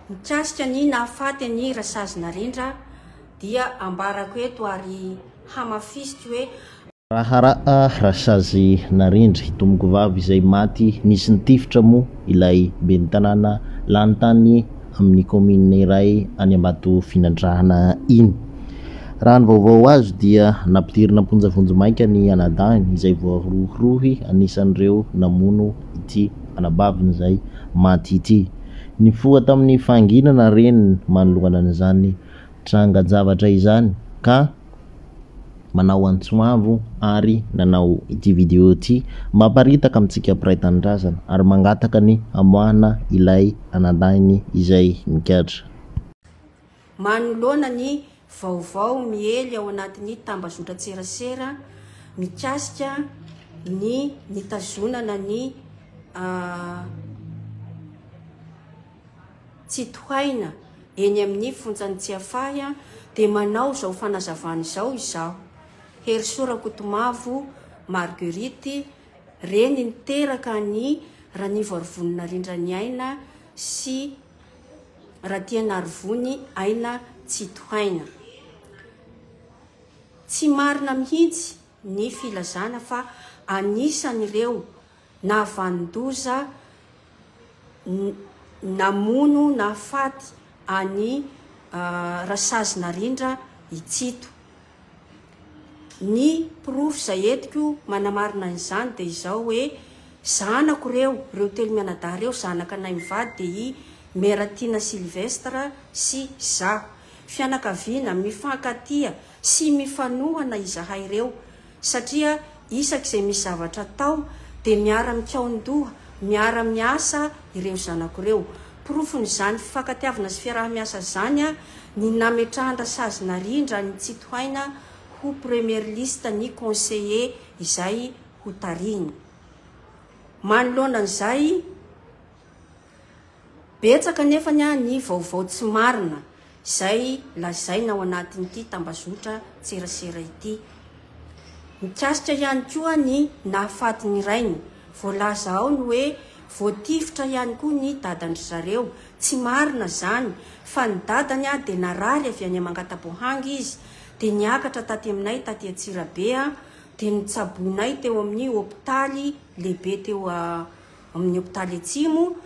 Mikasika ny nahafaty an'i Rasazy Narendra dia ambarako eto ary hamafisiko hoe. Raharaha Rasazy Narendra, hitomoko vavy izay maty nisy nitifitra moa ilay ben'ny tanàna lany tany amin'ny kaominina iray any Ambatofinandrahana iny. Raha ny vaovao azo dia nampidirina am-ponja vonjimaika ny anadahiny izay voarohirohy anisan'ireo namono ity anabaviny izay maty ity. Nifoha tamin'ny fahanginana reny manoloana an'izany trangan-javatra izany ka manao antso avo ary nanao ity video ity mba haparitaka amintsika mpiray tanindrazana ary mangataka ny hamoahana ilay anadahiny izay nikatra. Manoloana ny vaovao miely ao anatin'ny tambazotran-tserasera mikasika ny nitazonana ny tsy tohaina eny amin'ny fonjan'i Tsiafahy dia manao izao fanazavana izao izaho, Herisoa Rakotomavo Marguerite, reny niteraka an'i Ranivo Arivonina Rindraniaina sy Ratianarivony aina tsy tohaina. Tsy marina mihitsy ny filazana fa anisan'ireo nahavanon-doza namono nahafaty an'i Rasazy Narindra i Tsito. Ny porofo izay entiko manamarina an'izany dia izao hoe, zanako ireo, ireo telo mianadahy ireo, zanak'anay mivady dia i Meratiana Sylvestre sy izaho. Fianakaviana mifankatia sy mifanohana izahay ireo satria isaky izay misy zavatra atao dia miara-mikaon-doha, miara-miasa ireo zanako ireo. Porofon'izany fifankatiavana sy fiaraha-miasa izany ny nametrahan-dRasazy Narindra an'i Tsitohaina ho Premier Liste ny Conseiller izay hotarihiny. Manoloana an'izay, Betsaka anefa ny vaovao tsy marina izay lazaina ao anatin'ity tambazotran-tserasera ity. Mikasika ihany koa ny nahafatin'ny rainy. Voalaza ao ny hoe voatifitra ihany koa ny dadan-dry zareo. Tsy marina izany fa ny dadany dia narary avy any Amangataboahangy izy dia niakatra taty aminay taty Antsirabe dia notsaboinay teo amin'ny hopitaly lehibe teo amin'ny hopitaly Atsimo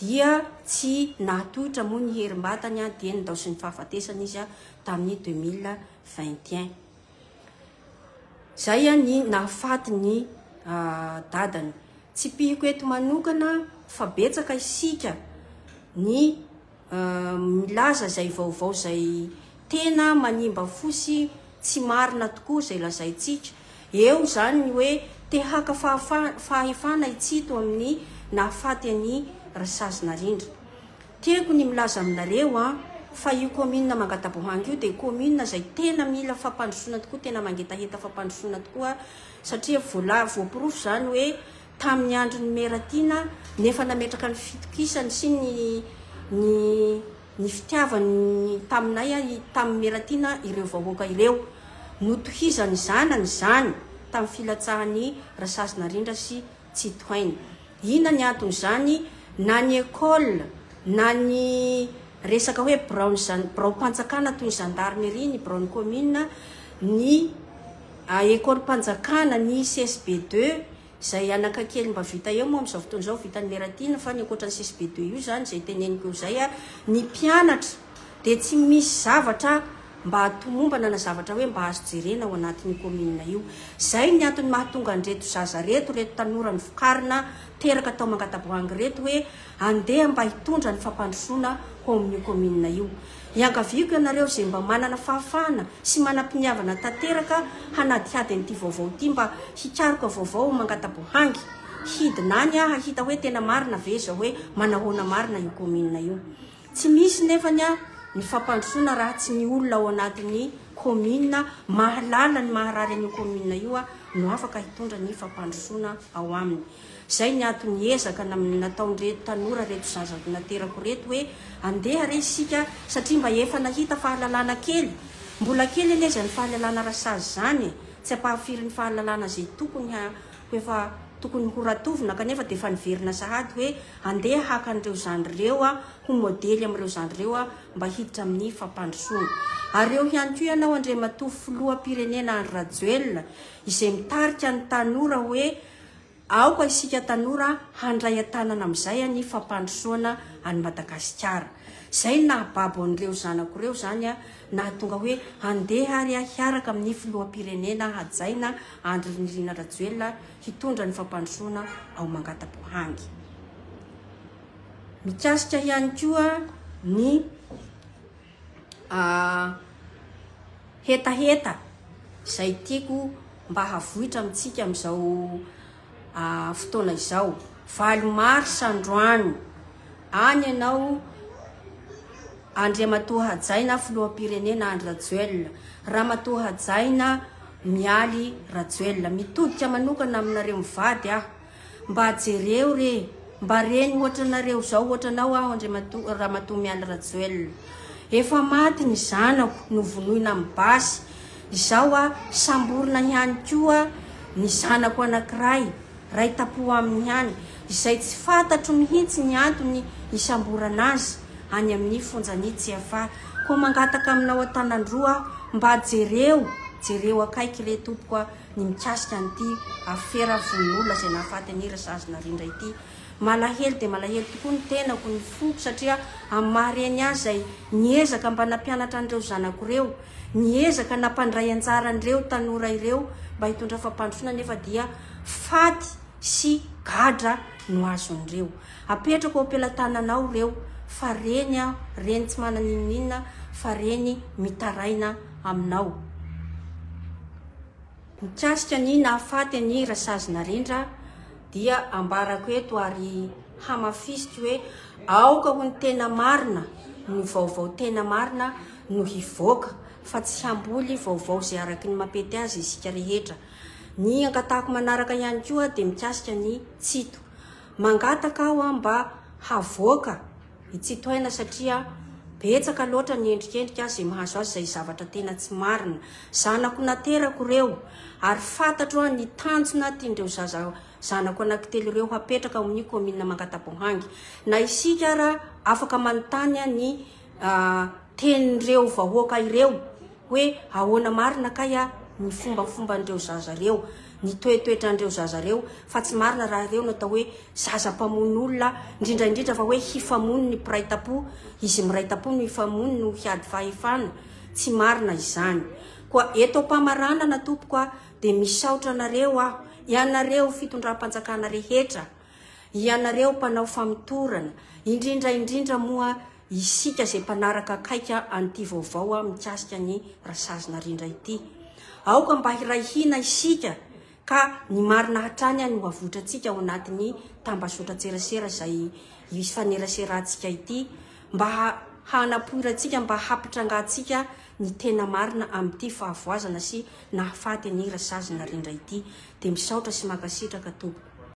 dia tsy nahatohitra moa ny herim-batany dia nindaosin'ny fahafatesana izy tamin'ny 2021. Izay ny nahafaty ny dadany. Tsipihiko eto manokana fa betsaka isika ny milaza izay vaovao izay tena manimba fo sy tsy marina tokoa izay lazaintsika. Eo izany ny hoe te haka fahefana i Tsito amin'ny nahafaty an'i Rasazonarindra. Tiako ny milaza aminareo an, fa io commune Mangatabohanga io dia commune izay tena mila fampandrosoana tokoa, tena mangetaheta fampandrosoana tokoa, satria voaporofo izany hoe tamin'ny andron'i Meratina nefa nametraka ny fitokisany sy ny ny ny fitiavany taminay tamin'i Meratina ireo vahoaka ireo. Notohizan'ny zanany izany tamin'ny filatsahan'i Rasazinarindra sy Tsitohaina. Inona ny anton'izany? Na ny école na ny resaka hoe biraon'ny zan biraom-panjakana toy ny zandarimeria, ny biraon'ny commune, ny. A Ekolim-panjakana ny CSB deux izay anaka kely mba vita eo moa amin'izao fotoana izao vitan'i Meratina fa ny ankoatra ny CSB deux io izany izay teneniko eo izay ny mpianatra dia tsy misy zavatra mba tomombana na zavatra hoe mba azo jerena ao anatin'io kaominina io. Izay ny antony mahatonga an'ireto zaza ireto, ireto tanora novokarina teraka tao Mangataboahangy ireto hoe Andeha mba hitondra ny fampandrosoana ho ao amin'io kaominina io. Iangaviako ianareo izay mba manana fahafahana sy manam-piniavana tanteraka hanadihady an'ity vaovao ity mba hikaroka vaovao mangata-boahangy. Hidina any aho hahita hoe tena marina ve izao hoe manahoana marina io kaominina io. Tsy misy nefany ny fampandrosoana raha tsy ny olona ao anatin'ny kaominina mahalala ny maharary an'io kaominina io no afaka hitondra ny fampandrosoana ao aminy. Izay ny antony ezaka nataon'ireto tanora ireto zaza naterako ireto hoe andeha re isika satria mba efa nahita fahalalana kely, mbola kely anie izany fahalalana rasazy izany e, tsy ampahafirin'ny fahalalana izay tokony ho efa tokony ho ratovina kanefa dia efa niverina sahady hoe andeha haka an'ireo zandry ireo aho ho modely amin'ireo zandry ireo aho mba hiditra amin'ny fampandrosoana. Ary eo ihany koa ianao Andriamatoa Filoham-pirenena Andry Rajoelina izay mitarika ny tanora hoe Aoka isika tanora handray an-tanana amin'izay any fampandrosoana an'i Madagasikara. Izay no nahababo an'ireo zanako ireo izany nahatonga hoe handeha ary hiaraka amin'ny filoham-pirenena hajaina Andry Nirina Rajoelina hitondra ny fampandrosoana ao Mangatabohangy. Mikasika ihany koa ny. hetaheta izay tiako mba havoitra amintsika amin'izao fotoana izao. Valo mars androany, any ianao Andriamatoa Hajaina filoham-pirenena Andry Rajoelina, Ramatoa Hajaina Mialy Rajoelina. Mitodika manokana aminareo mivady aho. Mba jereo re, mba reny ohatra anareo zao, ohatra anao aho Andriamatoa Ramatoa Mialy Rajoelina. Efa maty ny zanako novonoina amin'ny basy, izao a samborina ihany koa ny zanako anankiray, ray tapoha aminy ihany, izay tsy fantatro mihitsy ny antony hisamborana azy any amin'ny fonjan'i Tsiafahy. Koa mangataka aminao an-tanan-droa aho, mba jereo, jereo akaiky re tompoko a. ny mikasika an'ity afera vononolona izay nahafaty an'i Razazy Narindra ity. Malahelo dia malahelo tokoa ny tenako, ny foko satria amin'ny maha reny ahy izay niezaka mba nampianatra an'ireo zanako ireo, niezaka nampandray anjara an'ireo tanora ireo mba hitondra fampandrosoana nefa dia faty sy gadra no azon'ireo. Apetrako ao am-pelatananao ireo fa reny aho, reny tsy manana inon'inona fa reny mitaraina aminao. Mikasika ny nahafaty an'i Rasazy Narendra dia ambarako eto ary hamafisiko hoe aoka ho ny tena marina no vaovao tena marina no hivoaka fa tsy hamboly vaovao izay araky ny mapety azy isika rehetra. Ny angatahako manaraka ihany koa dia mikasika ny Tsito. Mangataka aho mba havoaka. I Tsitohaina satria betsaka loatra ny endrikendrika azy izay mahazo azy izay zavatra tena tsy marina. Zanako naterako ireo ary fantatro aho ny tanjona tian'ireo zaza zanako anankitelo ireo hapetraka ao amin'io kaominina Mangataboahangy. Na isika ara afaka manontany ny tenin'ireo vahoaka ireo hoe ahoana marina kay ny fombafomban'ireo zaza ireo, ny toetoetran'ireo zaza ireo fa tsy marina raha ireo no atao hoe zaza mpamono olona indrindra indrindra fa hoe hifamono ny mpiray tampo izy miray tampo no hifamono no hiady fahefana tsy marina izany koa eto ampamaranana tompoko a dia misaotra anareo aho ianareo fitondram-panjakana rehetra ianareo mpanao famotorana indrindra indrindra moa isika izay mpanaraka akaika an'ity vaovao a mikasika ny rasazina rindra ity aoka mba hiray hina isika Ka ny marina hatrany any ho avotrantsika ao anatin'ny tambazotran-tserasera izay ifaneraserantsika ity mba hanapoirantsika, mba hampitrangantsika ny tena marina amin'ity fahavoazana sy nahafaty an'i Razazinarindra ity. Dia misaotra sy mankasitraka Tompoko.